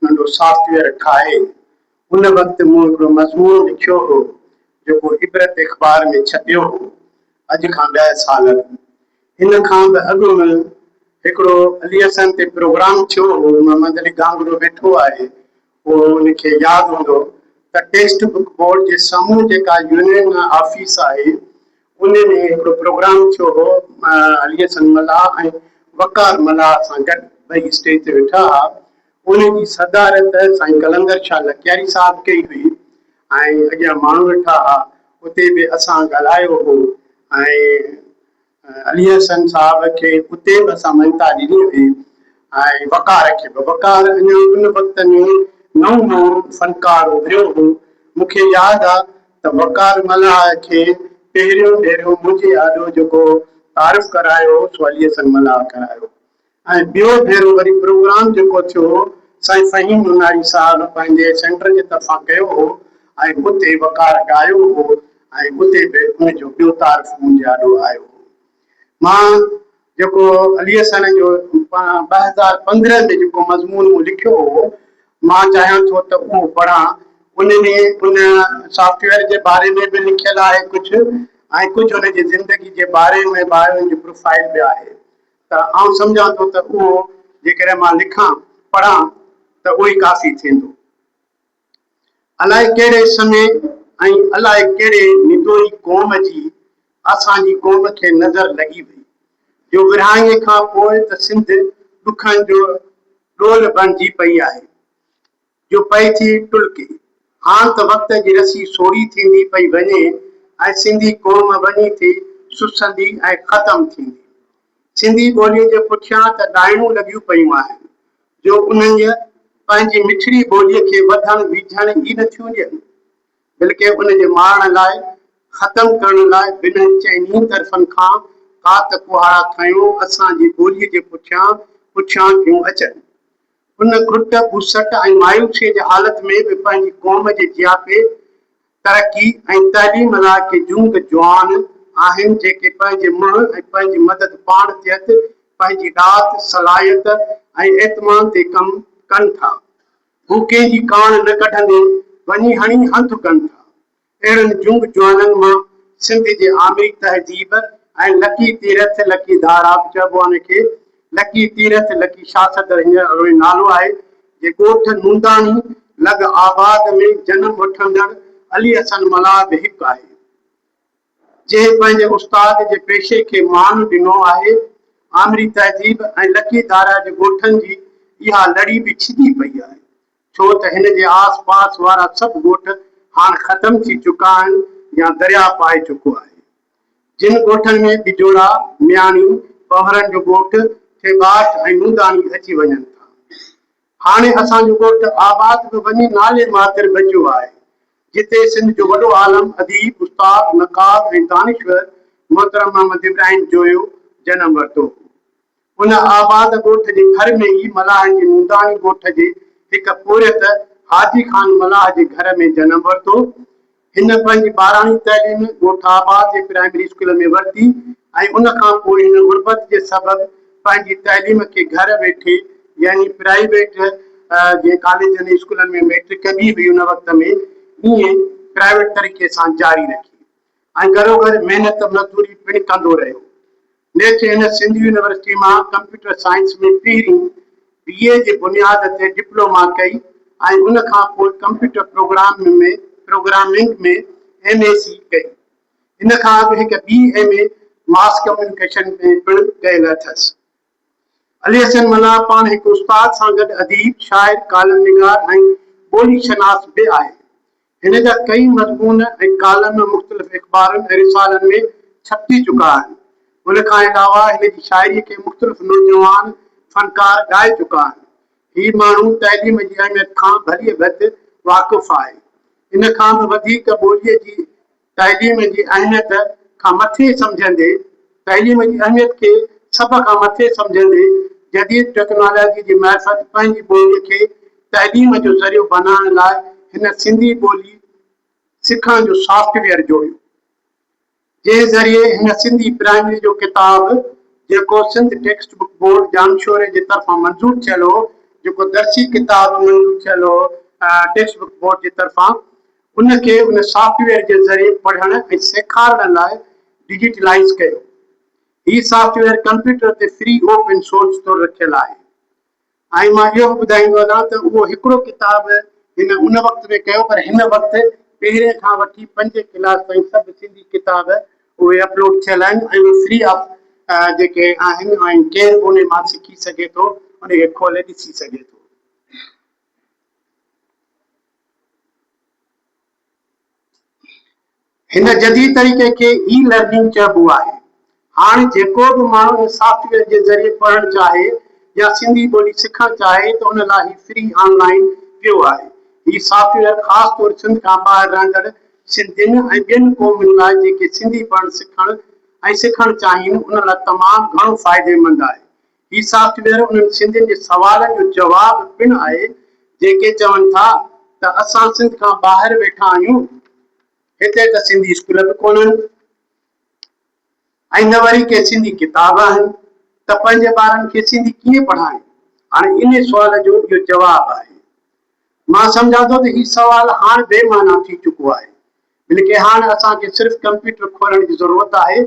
ننڍو software ٺاهي ان وقت مون هڪڙو مضمون لکيو هو جيڪو عبرت اخبار ۾ ڇپيو هو اڄ کان ڏهه سال اڳ ان کان به اڳ م هڪڙو علي حسن تي پروگرام ٿيو هو محمد علي گانگرو ويٺو آهي اهو ان کي ياد هوندو ته ٽيسٽ بڪ بورڊ جي سامهون جيڪا يونين آفيس آهي انهن ۾ هڪڙو پروگرام ٿيو هو. علي حسن ملاح ۽ وقار ملاح سان گڏ ٻئي اسٽيج تي ويٺا ها. ان جي صدارت سائين قلندر شاهه لڪياري صاحب ڪئي هئي ۽ اڳيان ماڻهو ويٺا ها. اتي به اسان ڳالهايو هو ۽ علي حسن صاحب کي اتي به اسان مڃتا ڏني هئي ۽ وقار کي به. وقار اڃا ان وقت ۾ نئون نئون فنڪار اڀريو هو. مون کي ياد آ ته وقار ملاح کي پهريون ڀيرو منهنجي آڏو جيڪو تعارف ڪرايو هو سو علي حسن ملاح ڪرايو ۽ ٻيو ڀيرو وري پروگرام جيڪو ٿيو سائين فهيم نوناري صاحب پنهنجي سينٽر جي طرفان ڪيو هو ۽ اتي وقار ڳايو هو ۽ اتي به ان جو ٻيو تعارف منهنجي آڏو آيو هو مان جيڪو علي حسن جو پاڻ ٻه هزار پندرهن ۾ جيڪو مضمون مون لکيو هو، مان چاهيان ٿو ته اهو پڙهان. ان ۾ ان سافٽ ويئر جي باري ۾ به لکيل آهي ڪجهه ۽ ڪجهه ان جي زندگي جي باري ۾ به آهي، ان جي پروفائيل به آهي. ته آئون سمجهان ٿو ته اهو جيڪڏهن مان لکان، پڙهان ته اهو ئي ڪافي ٿيندو. الائي ڪهڙي سمي ۽ الائي ڪهڙي نتوئي قوم جي اسان جي قوم کي نظر لڳي وئي، جو ورهاڱي کان پوء ته سنڌ ڏکن جو ڏول بڻجي پئي آهي، جو پئي ٿي ٽلڪي. هاڻ ته وقت جي رسي سوڙهي ٿيندي پئي وڃي ۽ سنڌي قوم وڃي ٿي سسندي ۽ ختم ٿيندي. سنڌي ٻوليء جي پٺيان ته ڏائڻون لڳيون پيون آهن، جو انهن جي پنهنجي مٺڙي ٻوليء کي وڌڻ ويجهڻ ئي نه ٿيون ڏين، بلڪه ان جي مارڻ لاء، ختم ڪرڻ لاء بنهه چئني طرفن کان ڪات ڪهاڙا کنيون اسان جي ٻوليء جي پٺيان پٺيان ٿيون اچن. ان گهٽ، ٻوسٽ ۽ مايوسيء جي حالت ۾ به پنهنجي قوم جي جياپي، ترقي ۽ تعليم لاء ڪي جهونگ جوان آهن جيڪي پنهنجي منهن ۽ پنهنجي مدد پاڻ تحت پنهنجي ڏات، صلاحيت ۽ اعتمان تي ڪم ڪن ٿا. هو ڪنهن جي ڪاڻ نه ڪڍندي وڃي هڻي هنڌ ڪن ٿا. اهڙن جهونگ جوانن مان سنڌ جي آمري تهذيب ۽ لڪي تيرٿ، لڪي ڌارا به چئبو آهن ان کي، لڪي تيرٿ لڪي شاهه صدر هينئر اروهي نالو آهي، جي ڳوٺ نونداڻي لڳ آباد ۾ جنم وٺندڙ علي حسن ملاح به هڪ آهي، جنهن پنهنجي استاد جي پيشي کي مان ڏنو آهي. آمري تهذيب ۽ لڪي ڌاريا جي ڳوٺن جي اها لڙي به ڇڄي پئي آهي، ڇو ته هن جي آس پاس وارا سڀ ڳوٺ هاڻ ختم ٿي چڪا آهن يا درياء پائي چڪو آهي. جن ڳوٺن ۾ ٻجوڙا، مياڻي، پهرن جو ڳوٺ، ٿيٻاٽ ۽ نونداڻي اچي وڃن ٿا. هاڻي اسان جو ڳوٺ آباد به وڃي نالي ماتر بچيو آهي، جتي سنڌ جو وڏو عالم، اديب، استاد، نقاد ۽ دانشور محترم محمد ابراهيم جويو جنم ورتو هو. ان آباد ڳوٺ جي ڀر ۾ ئي ملاحن جي منداڻي ڳوٺ جي هڪ پورهيت حاجي خان ملاح جي گهر ۾ جنم ورتو. هن پنهنجي ٻاراڻي تعليم ڳوٺ آباد جي پرائمري اسڪول ۾ ورتي ۽ ان کان پوء هن غربت جي سبب پنهنجي تعليم کي گهر ويٺي يعني پرائيويٽ جيئن ڪاليجن ۽ اسڪولن ۾ ميٽرڪ ڪبي هئي ان وقت ۾ ايئن پرائيويٽ طريقي سان جاري رکي. ۽ گهروگهر محنت مزدوري پڻ ڪندو رهيو. نيٺ هن سنڌ يونيورسٽي مان ڪمپيوٽر سائنس ۾ پهرين بي اي جي بنياد تي ڊپلوما ڪئي ۽ ان کان پوء computer program ۾ programming ۾ M A C ڪئي. ان کان اڳ هڪ ٻي ايم اي ماس ڪميونيڪيشن ۾ پڻ ڪيل اٿس. علي حسن ملاح پاڻ هڪ استاد سان گڏ اديب، شاعر، ڪالم نگار ۽ ٻولي شناس به آهي. هن جا ڪيئي مضمون ۽ ڪالم مختلف اخبارن ۽ رسالن ۾ ڇپجي چڪا آهن. ان کان علاوه هن جي شاعري کي مختلف نوجوان فنڪار ڳائي چڪا آهن. هي ماڻهو تعليم جي اهميت کان ڀليء ڀت واقف آهي. ان کان به وڌيڪ ٻوليء جي تعليم جي اهميت کان مٿي سمجهندي تعليم جي اهميت کي سڀ کان مٿي سمجهندي جديد ٽيڪنالاجي جي معرفت پنهنجي ٻولي کي تعليم جو ذريعو بنائڻ لاء هن سنڌي ٻولي سکڻ جو سافٽ ويئر جوڙيو جنهن ذريعي هن سنڌي پرائمري جو ڪتاب جيڪو سنڌ ٽيڪسٽ بڪ بورڊ ڄامشوري جي طرفان منظور ٿيل هو جيڪو درسي ڪتاب منظور ٿيل هو ٽيڪسٽ بڪ بورڊ جي طرفان ان کي ان سافٽ ويئر جي ذريعي پڙهڻ ۽ سيکارڻ لاء ڊجيٽلائيز ڪيو. هي سافٽ ويئر ڪمپيوٽر تي فري اوپن سورس طور رکيل آهي ۽ مان اهو به ٻڌائيندو هلان ته اهو هڪڙو ڪتاب هن ان وقت ۾ ڪيو پر هن وقت پهرين کان وٺي پنجين ڪلاس تائين سڀ سنڌي ڪتاب اهي اپلوڊ ٿيل آهن ۽ اهي فري آف جيڪي آهن ۽ ڪير به انهي مان سکي سگهي ٿو انهي کي کولي ڏسي سگهي ٿو. هن جديد طريقي کي اي لرننگ چئبو آهي. هاڻ جيڪو به ماڻهو ان سافٽ ويئر جي ذريعي پڙهڻ چاهي يا سنڌي ٻولي سکڻ چاهي ته ان لاء هي فري آن لائين پيو آهي. هي سافٽ ويئر خاص طور سنڌ کان ٻاهر رهندڙ سنڌين ۽ ٻين قومن لاء جيڪي سنڌي پڙهڻ سکڻ ۽ سکڻ چاهين ان لاء تمام گهڻو فائديمند آهي. هي سافٽ ويئر انهن سنڌين جي سوالن جو جواب پڻ آهي جيڪي چون ٿا ته اسان سنڌ کان ٻاهر ويٺا آهيون هتي ته سنڌي اسڪول به ڪونهن ۽ نه وري ڪي سنڌي ڪتاب آهن ته پنهنجي ٻارن کي سنڌي ڪيئن پڙهائين هاڻي ان سوال جو اهو جواب آهي مان سمجهان ٿو ته هي سوال هاڻ بي معنيٰ ٿي چڪو آهي بلڪه هاڻ اسان کي صرف ڪمپيوٽر کولڻ جي ضرورت آهي.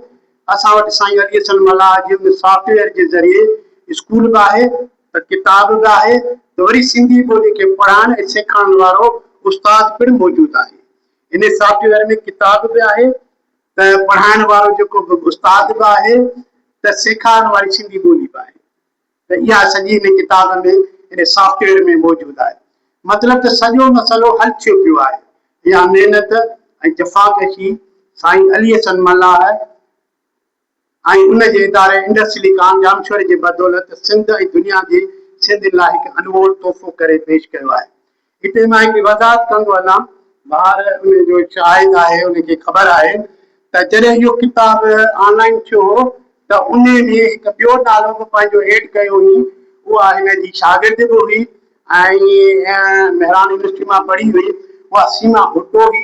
اسان وٽ سائين علي حسن ملاح جي ان سافٽ ويئر جي ذريعي اسڪول به آهي ته ڪتاب به آهي ته وري سنڌي ٻولي کي پڙهائڻ ۽ سيکارڻ وارو استاد پڻ موجود آهي. ان سافٽ ويئر ۾ ڪتاب به آهي ته پڙهائڻ وارو جيڪو به استاد به آهي ته سيکارڻ واري سنڌي ٻولي به آهي. ته اها سڄي ان ڪتاب ۾ ان سافٽ ويئر ۾ موجود آهي. مطلب ته سڄو مسئلو حل ٿيو پيو آهي. اها محنت ۽ جفا ڪشي سائين علي حسن ملاح ۽ ان جي اداري انڊس سليڪان ڄامشوري جي بدولت سنڌ ۽ دنيا جي سنڌين لاء هڪ انمول تحفو ڪري پيش ڪيو آهي. هتي مان هڪڙي وضاحت ڪندو هلان، بهار ان جو شاهد آهي، ان کي خبر آهي ته جڏهن اهو ڪتاب آن لائين ٿيو هو ته ان ۾ هڪ ٻيو نالو به پنهنجو ايڊ ڪيو هئي، اها هن جي شاگرد به هئي ۽ مهراڻ يونيورسٽي مان پڙهي هئي، اها سيما ڀٽو هئي.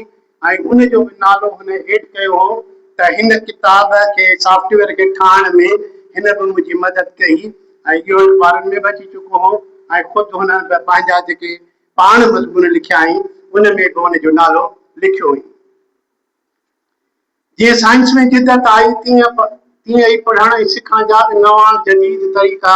۽ ان جو به نالو هن هيٺ ڪيو هو ته هن ڪتاب کي سافٽ ويئر کي ٺاهڻ ۾ هن به منهنجي مدد ڪئي ۽ اهو اخبارن ۾ به اچي چڪو هو ۽ خود هن پنهنجا جيڪي پاڻ مضمون لکيائين ان ۾ به ان جو نالو لکيو هئي. جيئن سائنس ۾ جدت آئي تيئن تيئن ئي پڙهڻ ۽ سکڻ جا به نوان جديد طريقا